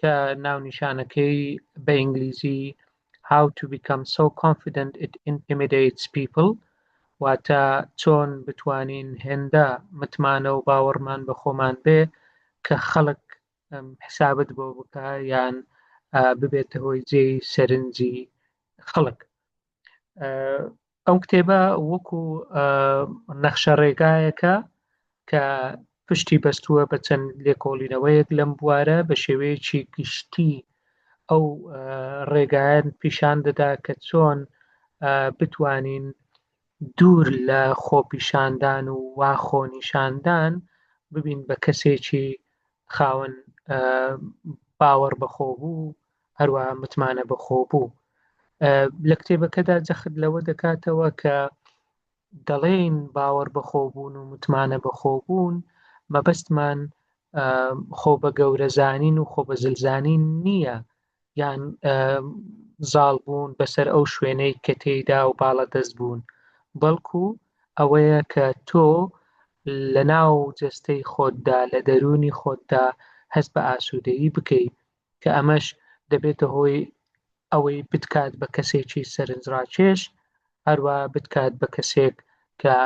کە ناونیشانەکەی بە ئینگلیزی How to Become So Confident It Intimidates People واتە چۆن بتوانین هێندە متمانە و باوەڕمان بە خۆمان بێ کە خەڵک حسابت بۆ بکە یان ببێتە هۆی جێی سەرنجی خەڵک ئەو کتێبە وەکو نەخشە ڕێگایەکە کە پشتی بەستووە بە چەند لێکۆڵینەوەیەک لەم بوارە بە شێوەیەکی گشتی ئەو ڕێگایان پیشان دەدا کە چۆن بتوانین دوور لە خۆپیشاندان و وا خۆنیشاندان ببین بە کەسێکی خاوەن باوەڕ بەخۆ بوو هەروەها متمانە بەخۆبوو لە کتێبەکەدا جەخت لەوە دەکاتەوە کە دەڵێن باوەڕ بەخۆبوون و متمانە بەخۆبوون مەبەستمان خۆ بە گەورەزانین و خۆ بە زلزانین نییە یان زاڵ بوون بەسەر ئەو شوێنەی کە تێیدا و باڵە دەست بوون بەڵکو ئەوەیە کە تۆ لە ناو جەستەی خۆتدا لە دەرونی خۆتدا هەست بە ئاسوودەیی بکەیت کە ئەمەش دەبێتە هۆی ئەوەی بتکات بە کەسێکی سەرنجڕاکێش هەروە بتکات بە کەسێک کە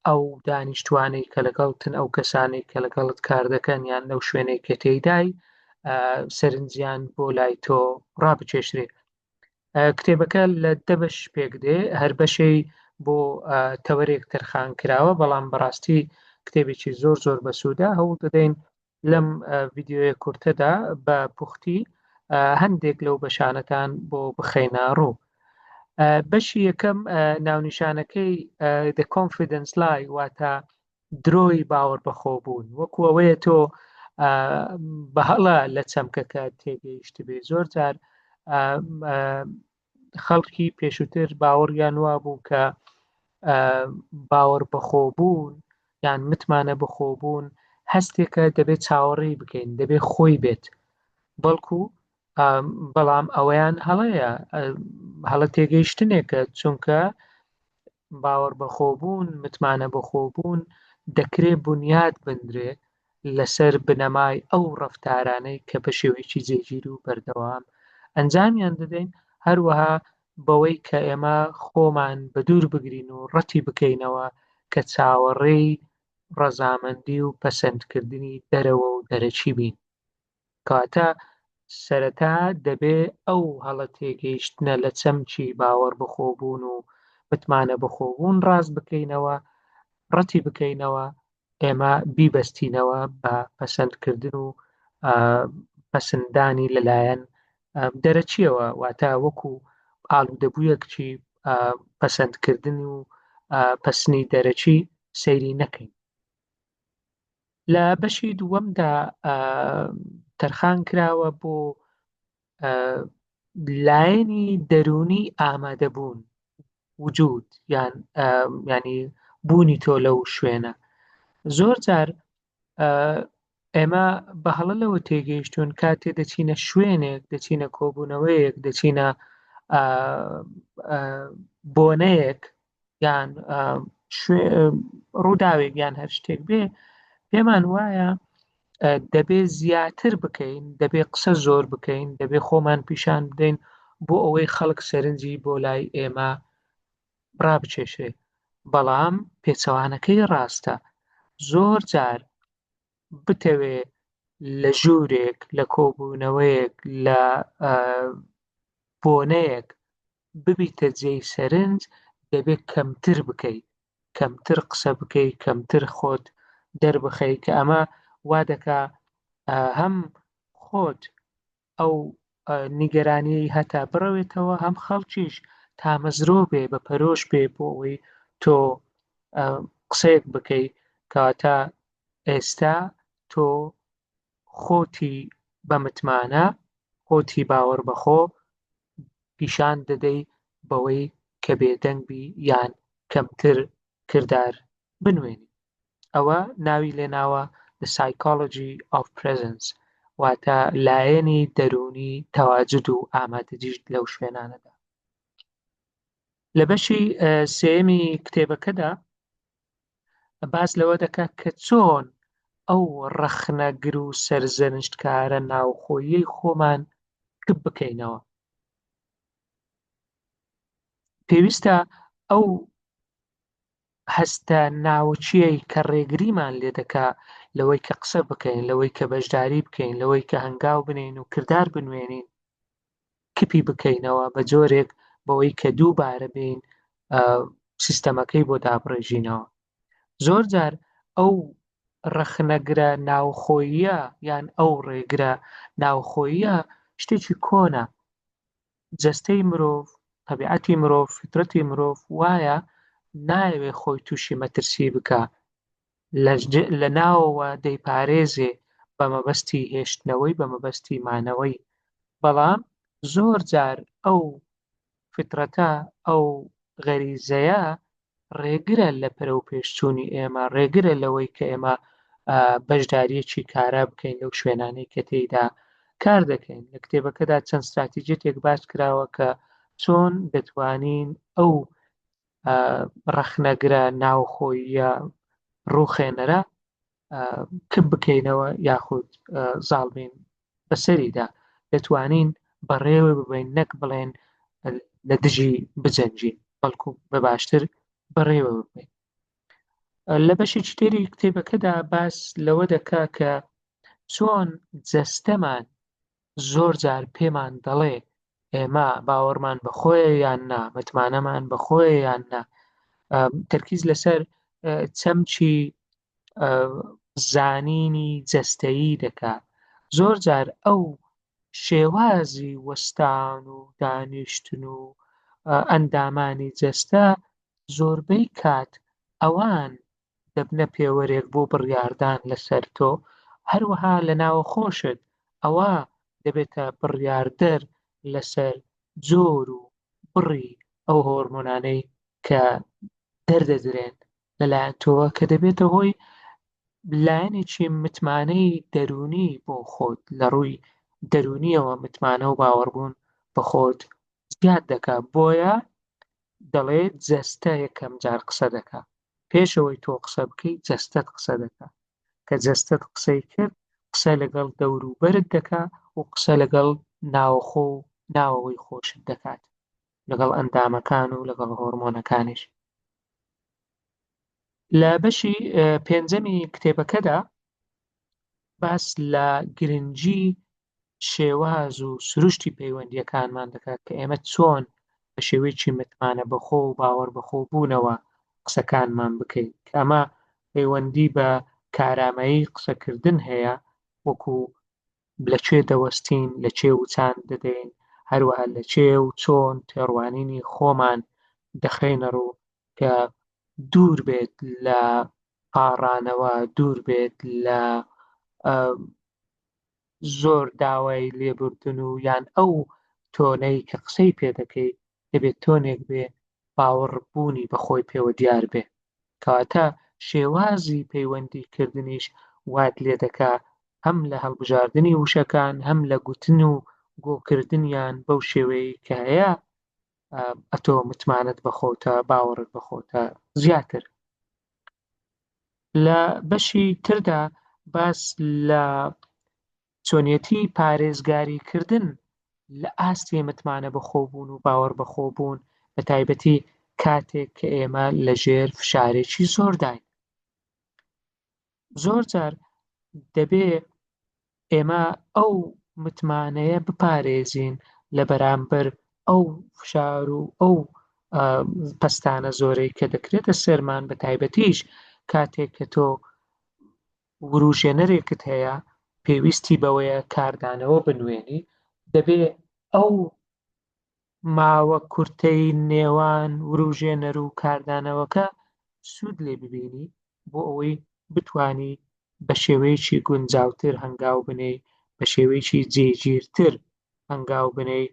ئەو دانیشتوانەی کە لەگەڵتن ئەو کەسانی کە لەگەڵت کار دەکەن یان لەو شوێنێک کە تێیدای سەرنجیان بۆ لای تۆ ڕابچێشرێت کتێبەکە لە دەبش پێک دێ هەر بەشەی بۆ تەوەرێک تەرخان کراوە بەڵام بەڕاستی کتێبێکی زۆر زۆر بەسوودە هەوڵ دەدەین لەم ڤیددیوە کورتەدا بە پوختی هەندێک لەو بەشانەتان بۆ بخەینە ڕوو بەشی یەکەم ناونیشانەکەی the confidence لای واتە درۆی باوەڕ بەخۆ بوون وەکو ئەوەیە تۆ بەهڵە لە چەمکەکە تێگەیشت بێ زۆر جار خەڵکی پێشووتر باوەڕیان وابوو کە باوەڕ بەخۆبوون یان متمانە بەخۆبوون هەستێکە دەبێت چاوەڕێی بکەین دەبێت خۆی بێت بەڵکو بەڵام ئەوەیان هەڵەیە هەڵە تێگەیشتنێکە چونکە باوەڕ بەخۆبوون متمانە بەخۆبوون دەکرێت بنیاد بندرێ لەسەر بنەمای ئەو ڕەفتارانەی کە بە شێوەیەکی جێگیر و بەردەوام ئەنجامیان دەدەین، هەروەها بەوەی کە ئێمە خۆمان بەدوور بگرین و ڕەتی بکەینەوە کە چاوەڕێی ڕەزامەندی و پەسەندکردنی دەرەوە و دەرەکی بین. کاتە سەرەتا دەبێ ئەو هەڵە تێگەیشتنە لە چەمکی باوەڕ بەخۆبوون و متمانە بەخۆبوون ڕاست بکەینەوە، ڕەتی بکەینەوە، ئێمە بیبەستینەوە بە پەسەندکردن و پەسندانی لەلایەن دەرەچیەوە واتە وەکو ئالوودەبوویەکچی پەسەندکردن و پەسنی دەرەچی سەیری نەکەین. لە بەشی دووەمدا تەرخان کراوە بۆ لایەنی دەروونی ئامادەبوون وجود یان ینی بوونی تۆ لەو شوێنە زۆر جار ئێمە بە هەڵە لەوە تێگەیشتون کاتێ دەچینە شوێنێک دەچینە کۆبوونەوەیەک دەچینە بۆنەیەک یان ڕووداوێک یان هەر شتێک بێ پێمان وایە دەبێ زیاتر بکەین دەبێ قسە زۆر بکەین دەبێ خۆمان پیشان بدەین بۆ ئەوەی خەڵک سەرنجی بۆ لای ئێمە ڕابچێشێ بەڵام پێچەوانەکەی ڕاستە زۆر جار بتەوێ لە ژوورێک لە کۆبوونەوەیەک لە بۆنەیەک ببیتە جێی سەرنج دەبێت کەمتر بکەیت کەمتر قسە بکەیت کەمتر خۆت دەربخەیت کە ئەمە وا دەکا هەم خۆت ئەو نیگەرانیی هەتا بڕەوێتەوە هەم خەڵکیش تامەزرۆ بێ بە پەرۆش بێ بۆ ئەوەی تۆ قسەیەک بکەیت کەواتە ئێستا تۆ خۆتی بە متمانە، خۆتی باوەڕ بەخۆ پیشان دەدەی بەوەی کە بێدەنگ بی یان کەمتر کردار بنوێنی. ئەوە ناوی لێناوە The Psychology of Presence واتە لایەنی دەروونی تەواجود و ئامادەجیت لەو شوێنانەدا. لە بەشی سێیەمی کتێبەکەدا باس لەوە دەکات کە چۆن ئەو ڕەخنەگر و سەرزەنشتکارە ناوخۆیی خۆمان کپ بکەینەوە پێویستە ئەو هەستە ناوچیەی کە ڕێگریمان لێ دەکا لەوەی کە قسە بکەین لەوەی کە بەشداری بکەین لەوەی کە هەنگاو بنین و کردار بنوێنین کپی بکەینەوە بە جۆرێک بەوەی کە دووبارە بین سیستەمەکەی بۆ دابڕێژینەوە زۆر جار ئەو ڕەخنەگرە ناوخۆیە یان ئەو ڕێگرە ناوخۆیە شتێکی کۆنە جەستەی مرۆڤ طبیعەتی مرۆڤ فطرەتی مرۆڤ وایە نایەوێ خۆی تووشی مەترسی بکە لە ناوەوە دەیپارێزێ بە مەبەستی هێشتنەوەی بە مەبەستی مانەوەی بەڵام زۆر جار ئەو فیتڕەتە ئەو غەریزەیە ڕێگرە لە پەرەو پێشچوونی ئێمە ڕێگرە لەوەی کە ئێمە بەشداریەکی کارا بکەین لەو شوێنانەی کە تێیدا کار دەکەین لە کتێبەکەدا چەند استراتیجێتێک باش کراوە کە چۆن دەتوانین ئەو ڕەخنەگرە ناوخۆییە ڕووخێنەرە کپ بکەینەوە یاخود زاڵبین بەسەریدا دەتوانین بەڕێوە ببین نەک بڵێن لە دژی بجەنجین بەڵکو بە باشتر بەڕێوە ببین لە بەشی چتێری کتێبەکەدا باس لەوە دەکا کە چۆن جەستەمان زۆر جار پێمان دەڵێ ئێمە باوەڕمان بەخۆیە یان نا متمانەمان بەخۆیە یان نا تەرکیز لەسەر چەمچی زانینی جەستەیی دەکات زۆر جار ئەو شێوازی وەستان و دانیشتن و ئەندامانی جەستە زۆربەی کات ئەوان دەبنە پێوەرێک بۆ بڕیاردان لەسەر تۆ هەروەها لە ناوەخۆشت ئەوە دەبێتە بڕیاردەر لەسەر جۆر و بڕی ئەو هۆرمۆنانەی کە دەردەدرێن لەلایەن تۆوە کە دەبێتە هۆی لایەنێکی متمانەی دەرونی بۆ خۆت لە ڕووی دەرونیەوە متمانە و باوەڕبوون بە خۆت زیاد دەکات بۆیە دەڵێت جەستە یەکەم جار قسە دەکات پێش ئەوەی تۆ قسە بکەی جەستەت قسە دەکا کە جەستەت قسەی کرد قسە لەگەڵ دەور و بەرت دەکا و قسە لەگەڵ ناوەخۆ و ناوەوەی خۆشت دەکات لەگەڵ ئەندامەکان و لەگەڵ هۆرمۆنەکانیش لە بەشی پێنجەمی کتێبەکەدا باس لە گرنگی شێواز و سروشتی پەیوەندیەکانمان دەکات کە ئێمە چۆن بە شێوەیەکی متمانە بەخۆ و باوەڕ بەخۆ بوونەوە قسەکانمان بکەیت کە ئەمە پەیوەندی بە کارامایی قسەکردن هەیە وەکو لە چێ دەوەستین لە چێ وچان دەدەین هەروەها لە چێ و چۆن تێڕوانینی خۆمان دەخەینە ڕوو کە دوور بێت لە پاڕانەوە دوور بێت لە زۆر داوای لێبوردن و یان ئەو تۆنەی کە قسەی پێ دەکەیت دەبێت تۆنێک بێ باوەڕبوونی بەخۆی پێوە دیار بێ کەواتە شێوازی پەیوەندی کردنیش وات لێ دەکا هەم لە هەڵبژاردننی وشەکان هەم لە گوتن و گۆکردنیان بەو شێوەیە کە هەیە ئەتۆ متمانەت بەخۆتە باوەڕت بەخۆتە زیاتر لە بەشی تردا باس لە چۆنیەتی پارێزگاریکردن لە ئاستی متمانە بەخۆبوون و باوەڕ بەخۆبوون بە تایبەتی کاتێک کە ئێمە لەژێر فشارێکی زۆرداین زۆر جار دەبێ ئێمە ئەو متمانەیە بپارێزین لە بەرامبەر ئەو فشار و ئەو پستانە زۆرەی کە دەکرێتە سەرمان بە تایبەتیش کاتێک کە تۆ وروژێنەرێکت هەیە پێویستی بەوەیە کاردانەوە بنوێنی دەبێ ئەو ماوە کورتەی نێوان وروژێنەر و کاردانەوەکە سوود لێ ببینی بۆ ئەوەی بتوانی بە شێوەیەکی گونجاوتر هەنگاو بنێی بە شێوەیەکی جێگیرتر هەنگاو بنێی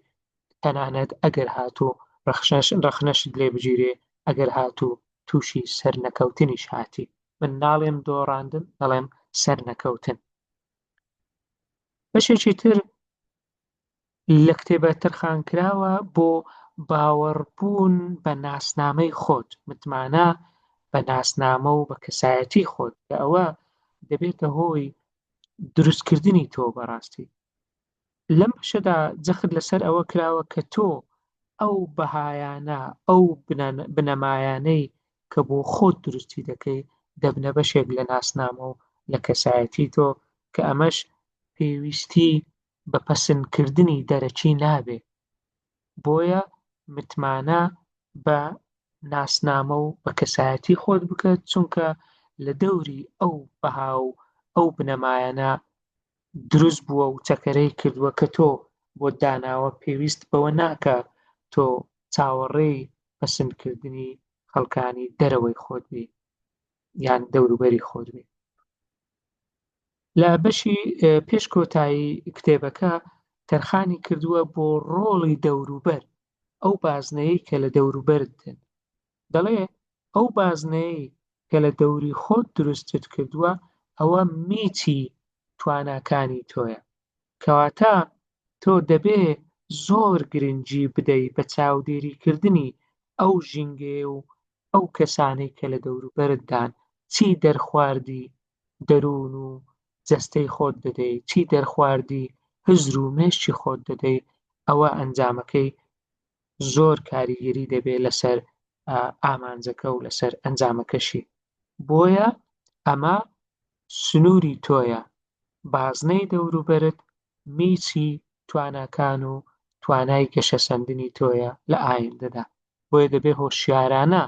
تەنانەت ئەگەر هاتوو ڕەخشەش ڕەخنەشت لێ بگیرێ ئەگەر هاتوو تووشی سەرنەکەوتنیش هاتی من ناڵێم دۆڕاندن دەڵێم سەرنەکەوتن بەشێکی تر لە کتێبە تەرخانکراوە بۆ باوەڕبوون بە ناسنامەی خۆت، متمانە بە ناسنامە و بە کەسایەتی خۆت کە ئەوە دەبێتە هۆی دروستکردنی تۆ بەڕاستی. لەم بەشەدا جەخت لەسەر ئەوە کراوە کە تۆ ئەو بەهایانە ئەو بنەمایانەی کە بۆ خۆت دروستی دەکەی دەبنە بەشێک لە ناسنامە و لە کەسایەتی تۆ کە ئەمەش پێویستی بە پەسندکردنی دەرەکی نابێ، بۆیە متمانە بە ناسنامە و بە کەسایەتی خۆت بکە، چونکە لە دەوری ئەو بەها و ئەو بنەمایانە دروست بووە و چەکەرەی کردووە کە تۆ بۆت داناوە، پێویست بەوە ناکا تۆ چاوەڕێی پەسندکردنی خەڵکانی دەرەوەی خۆت بی یان دەوروبەری خۆت بی. لە بەشی پێش کۆتایی کتێبەکە تەرخانی کردووە بۆ ڕۆڵی دەوروبەر ئەو بازنەیە کە لە دەوروبەرت دێن دەڵێ ئەو بازنەیە کە لە دەوری خۆت دروستت کردووە ئەوە میچی تواناکانی تۆیە کەواتە تۆ دەبێ زۆر گرنگی بدەی بە چاودێریکردنی ئەو ژینگەیە و ئەو کەسانەی کە لە دەوروبەرتدان، چی دەرخواردی دەروون و جەستەی خۆت دەدەی، چی دەرخواردی هزر و مێشکی خۆت دەدەی، ئەوە ئەنجامەکەی زۆر کاریگەری دەبێ لەسەر ئامانجەکە و لەسەر ئەنجامەکەشی. بۆیە ئەمە سنووری تۆیە، بازنەی دەوروبەرت میچی تواناکان و توانای گەشەسەندنی تۆیە لە ئایندەدا، بۆیە دەبێ هۆشیارانە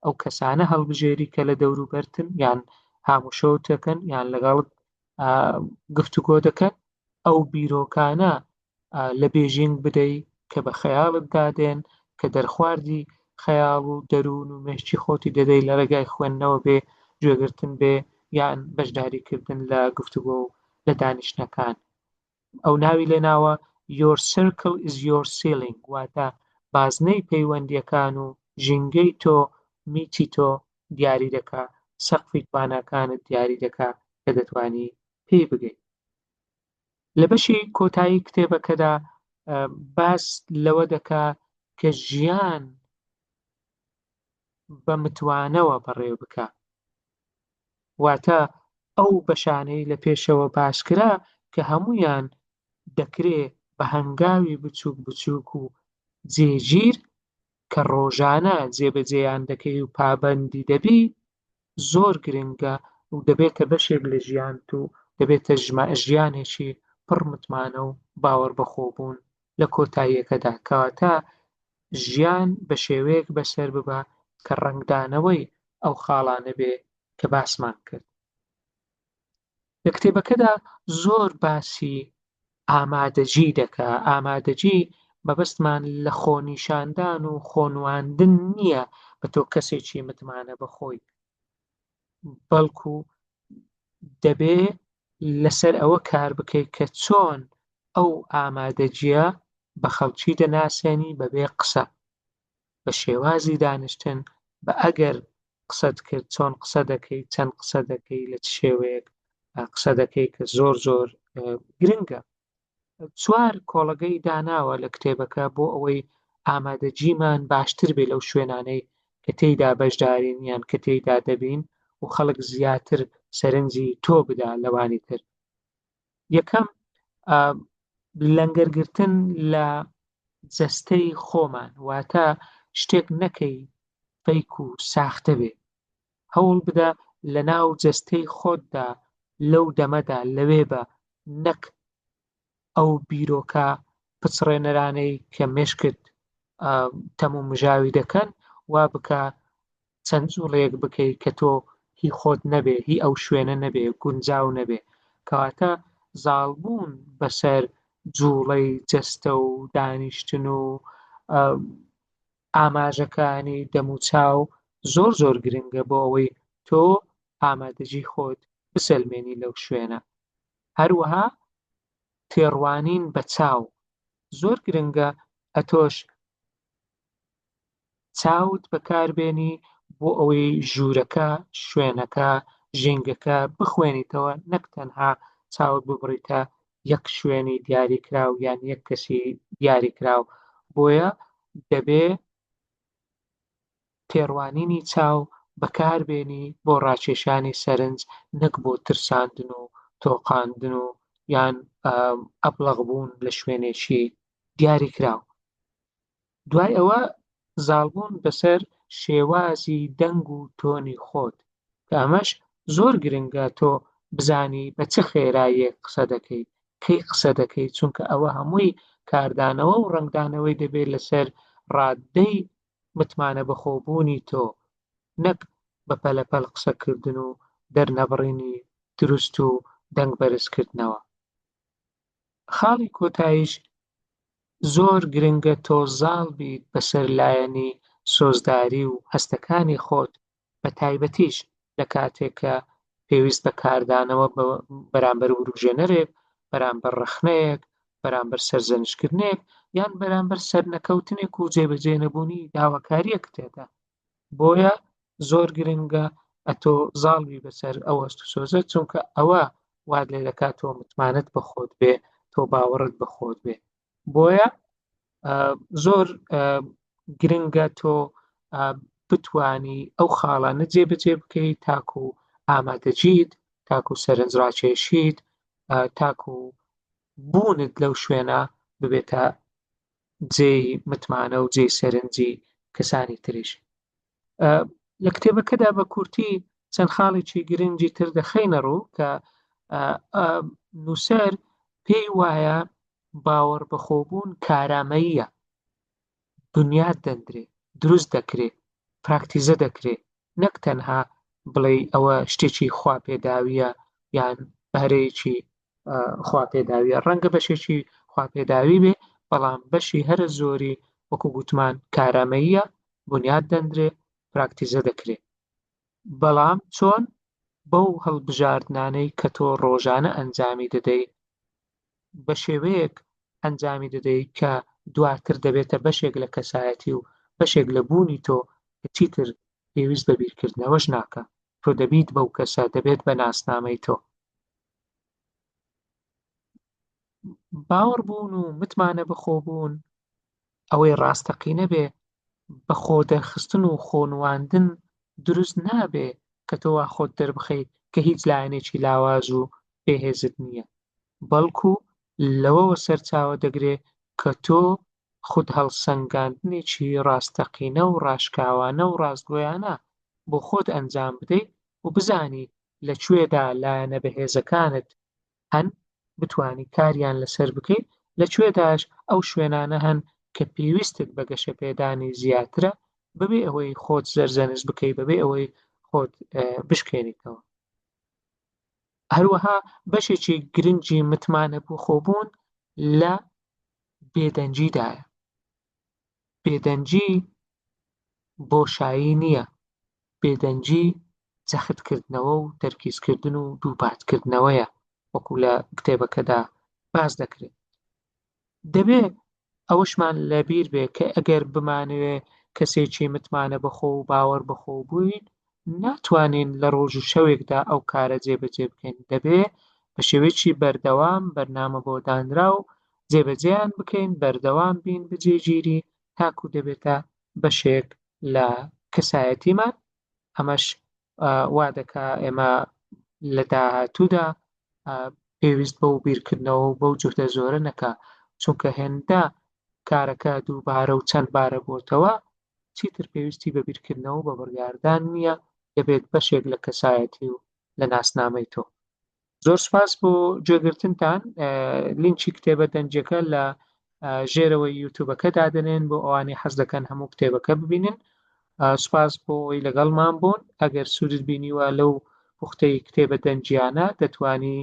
ئەو کەسانە هەڵبژێری کە لە دەوروبەرتن یان هاموشەوت دەکەن یان لەگەڵت گفتوگۆ دەکەن، ئەو بیرۆکانە لە بێژینگ بدەی کە بە خەیاڵت دادێن کە دەرخواردی خەیاڵ و دەروون و مێشکی خۆتی دەدەی لە ڕێگای خوێندنەوە بێ گوێگرتن بێ یان بەشداریکردن لە گفتوگۆ و لە دانیشتنەکان ئەو ناوی لێناوە Your circle is your ceiling واتە بازنەی پەیوەندیەکان و ژینگەی تۆ میتی تۆ دیاری دەکا سەقفی تواناکانت دیاری دەکا کە دەتوانی پێی بگەیت لە بەشی کۆتایی کتێبەکەدا باس لەوە دەکا کە ژیان بە متوانەوە بەڕێ بکە واتە ئەو بەشانەی لە پێشەوە باسکرا کە هەمویان دەکرێ بە هەنگاوی بچووک بچووک و جێگیر کە ڕۆژانە جێبەجێیان دەکەی و پابەندی دەبی زۆر گرنگە و دەبێتە بەشێک لە ژیانت و دەبێتە ژیانێکی پڕ متمانە و باوەڕ بەخۆبوون لە کۆتاییەکەدا کەواتە ژیان بە شێوەیەک بەسەر ببە کە ڕەنگدانەوەی ئەو خاڵانە بێ کە باسمان کرد لە کتێبەکەدا زۆر باسی ئامادەجی دەکا ئامادەجی مەبەستمان لە خۆنیشاندان و خۆنواندن نییە بە تۆ کەسێکی متمانە بەخۆی بەڵکو دەبێ لەسەر ئەوە کار بکەیت کە چۆن ئەو ئامادەجیە بە خەڵکی دەناسێنی بەبێ قسە بە شێوازی دانیشتن، بە ئەگەر قسەت کرد، چۆن قسە دەکەی، چەند قسە دەکەی، لە چ شێوەیەک قسە دەکەی کە زۆر زۆر گرنگە. چوار کۆڵەگەی داناوە لە کتێبەکە بۆ ئەوەی ئامادەجیمان باشتر بێ لەو شوێنانەی کە تێیدا بەشدارین یان کە تێیدا دەبین و خەڵک زیاتر سەرنجی تۆ بدا لەوانی تر. یەکەم لەنگەرگرتن لە جەستەی خۆمان واتە شتێک نەکەی فەیک و ساختە بێ هەوڵ بدە لە ناو جەستەی خۆتدا لەو دەمەدا لەوێ بە نەک ئەو بیرۆکە پچڕێنەرانەی کە مشکت تەمومژاوی دەکەن وا بکە چەند جوڵەیەک بکەی کە تۆ هی خۆت نەبێ، هی ئەو شوێنە نەبێ، گونجاو نەبێ. کەواتە زاڵبوون بەسەر جوڵەی جەستە و دانیشتن و ئاماژەکانی دەموچاو زۆر زۆر گرنگە بۆ ئەوەی تۆ ئامادەجی خۆت بسەلمێنی لەو شوێنە. هەروەها تێڕوانین بە چاو زۆر گرنگە ئەتۆش چاوت بەکاربێنی بۆ ئەوەی ژوورەکە، شوێنەکە، ژینگەکە بخوێنیتەوە نەک تەنها چاوت ببڕیتە یەک شوێنی دیاریکراو یان یەک کەسی دیاریکراو بۆیە دەبێ تێڕوانینی چاو بەکاربێنی بۆ ڕاکێشانی سەرنج نەک بۆ ترساندن و تۆقاندن و یان ئەبلەغ بوون لە شوێنێکی دیاریکراو دوای ئەوە زاڵبوون بەسەر شێوازی دەنگ و تۆنی خۆت کە ئەمەش زۆر گرنگە تۆ بزانی بە چ خێراییەک قسە دەکەی کەی قسە دەکەی چونکە ئەوە هەمووی کاردانەوە و ڕەنگدانەوەی دەبێت لەسەر ڕاددەی متمانە بەخۆبوونی تۆ نەک بە پەلەپەل قسەکردن و دەرنەبڕینی دروست و دەنگ بەرزکردنەوە خاڵی کۆتاییش زۆر گرنگە تۆ زاڵ بیت بەسەر لایەنی سۆزداری و هەستەکانی خۆت بە تایبەتیش لە کاتێک کە پێویست بە کاردانەوە بەرامبەر وروژێنەرێک بەرامبەر ڕەخنەیەک بەرامبەر سەرزەنشکردنێک یان بەرامبەر سەرنەکەوتنێک و جێبەجێنەبوونی داواکاریەک تێدا بۆیە زۆر گرنگە ئەتۆ زاڵ بی بەسەر ئەو هەست و سۆزە چونکە ئەوە وات لێ دەکات تۆ متمانەت بە خۆت بێ تۆ باوەڕت بە خۆت بێ بۆیە زۆر گرنگە تۆ بتانی ئەو خاڵانە جێبەجێ بکەیت تاکو و ئامادەجیت تاکو و سەرنجڕاکێشیت تاکو و بوونت لەو شوێنە ببێتە جێی متمانە و جێی سەرنجی کەسانی تریش لە کتێبەکەدا بە کورتی چەند خاڵێکی گرنگی تر دەخینە ڕوو کە نووسەر پێی وایە باوەڕ بەخۆبوون کارامەییە بنیاد دەندرێ دروست دەکرێ پراکتیزە دەکرێ نەک تەنها بڵێ ئەوە شتێکی خوا پێداویە یان بەرەیەکی خوا پێداویە ڕەنگە بەشێکی خوا پێداوی بێ بەڵام بەشی هەرە زۆری وەکو گوتمان کارامەییە بنیاد دەندرێ پراکتیزە دەکرێت بەڵام چۆن بەو هەڵبژاردنانەی کە تۆ ڕۆژانە ئەنجامی دەدەی بە شێوەیەک ئەنجامی دەدەی کە دواتر دەبێتە بەشێک لە کەسایەتی و بەشێک لە بوونی تۆ چیتر پێویست بە بیرکردنەوەش ناکە تۆ دەبیت بەو کەسە دەبێت بە ناسنامەی تۆ باوەڕ بوون و متمانە بەخۆبوون ئەوەی ڕاستەقینە بێ بە خۆ دەرخستن و خۆ نواندن دروست نابێ کە تۆ وا خۆت دەربخەیت کە هیچ لایەنێکی لاواز و بێهێزت نییە بەڵکو لەوەوە سەرچاوە دەگرێ کە تۆ خود هەڵسەنگاندنێکی ڕاستەقینە و ڕاشکاوانە و ڕاستگۆیانە بۆ خۆت ئەنجام بدەیت و بزانی لە کوێدا لایەنە بەهێزەکانت هەن بتوانی کاریان لەسەر بکەیت، لە کوێداش ئەو شوێنانە هەن کە پێویستت بە گەشەپێدانی زیاترە بەبێ ئەوەی خۆت زەرزەنست بکەیت، بەبێ ئەوەی خۆت بشکێنیتەوە. هەروەها بەشێکی گرنگی متمانە بۆ خۆبوون لە بێدەنگیدایە. بێدەنگی بۆشایی نییە، بێدەنگی جەختکردنەوە و تەرکیزکردن و دووپاتکردنەوەیە، وەکو لە کتێبەکەدا باس دەکرێت. دەبێت ئەوەشمان لەبیر بێت کە ئەگەر بمانەوێت کەسێکی متمانەبەخۆ و باوەڕبەخۆ بووین، ناتوانین لە ڕۆژ و شەوێکدا ئەو کارە جێبەجێ بکەین، دەبێ بە شێوەیەکی بەردەوام بەرنامە بۆ دانراو جێبەجێیان بکەین، بەردەوام بین بجێگیری تاکوو دەبێتە بەشێک لە کەسایەتیمان، ئەمەش وا دەکا ئێمە لە داهاتوودا پێویست بەو بیرکردنەوە و بەو جوهدە زۆرە نەکا، چونکە هێندە کارەکە دووبارە و چەند بارە بۆتەوە چیتر پێویستی بە بیرکردنەوە و بە بڕیاردان نییە، دەبێت بەشێک لە کەسایەتی و لە ناسنامەی تۆ. زۆر سپاس بۆ گوێگرتنتان، لینکی کتێبە دەنگیەکە لە ژێرەوەی یوتوبەکە دادەنێن بۆ ئەوانەی حەز دەکەن هەموو کتێبەکە ببینن. سپاس بۆ ئەوی لەگەڵمان بوون، ئەگەر سوودت بینیوە لەو پوختەی کتێبە دەنگیانە دەتوانی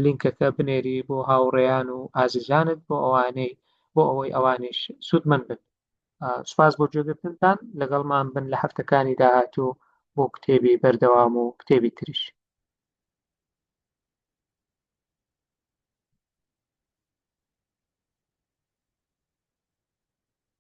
لینکەکە بنێری بۆ هاوڕێیان و ئازیزانت بۆ ئەوانەی بۆ ئەوەی ئەوانیش سوودمەند بن. سپاس بۆ جێگرتنتان لەگەڵمان بن لە هەفتەکانی داهاتوو بۆ کتێبی بەردەوام و کتێبی تریش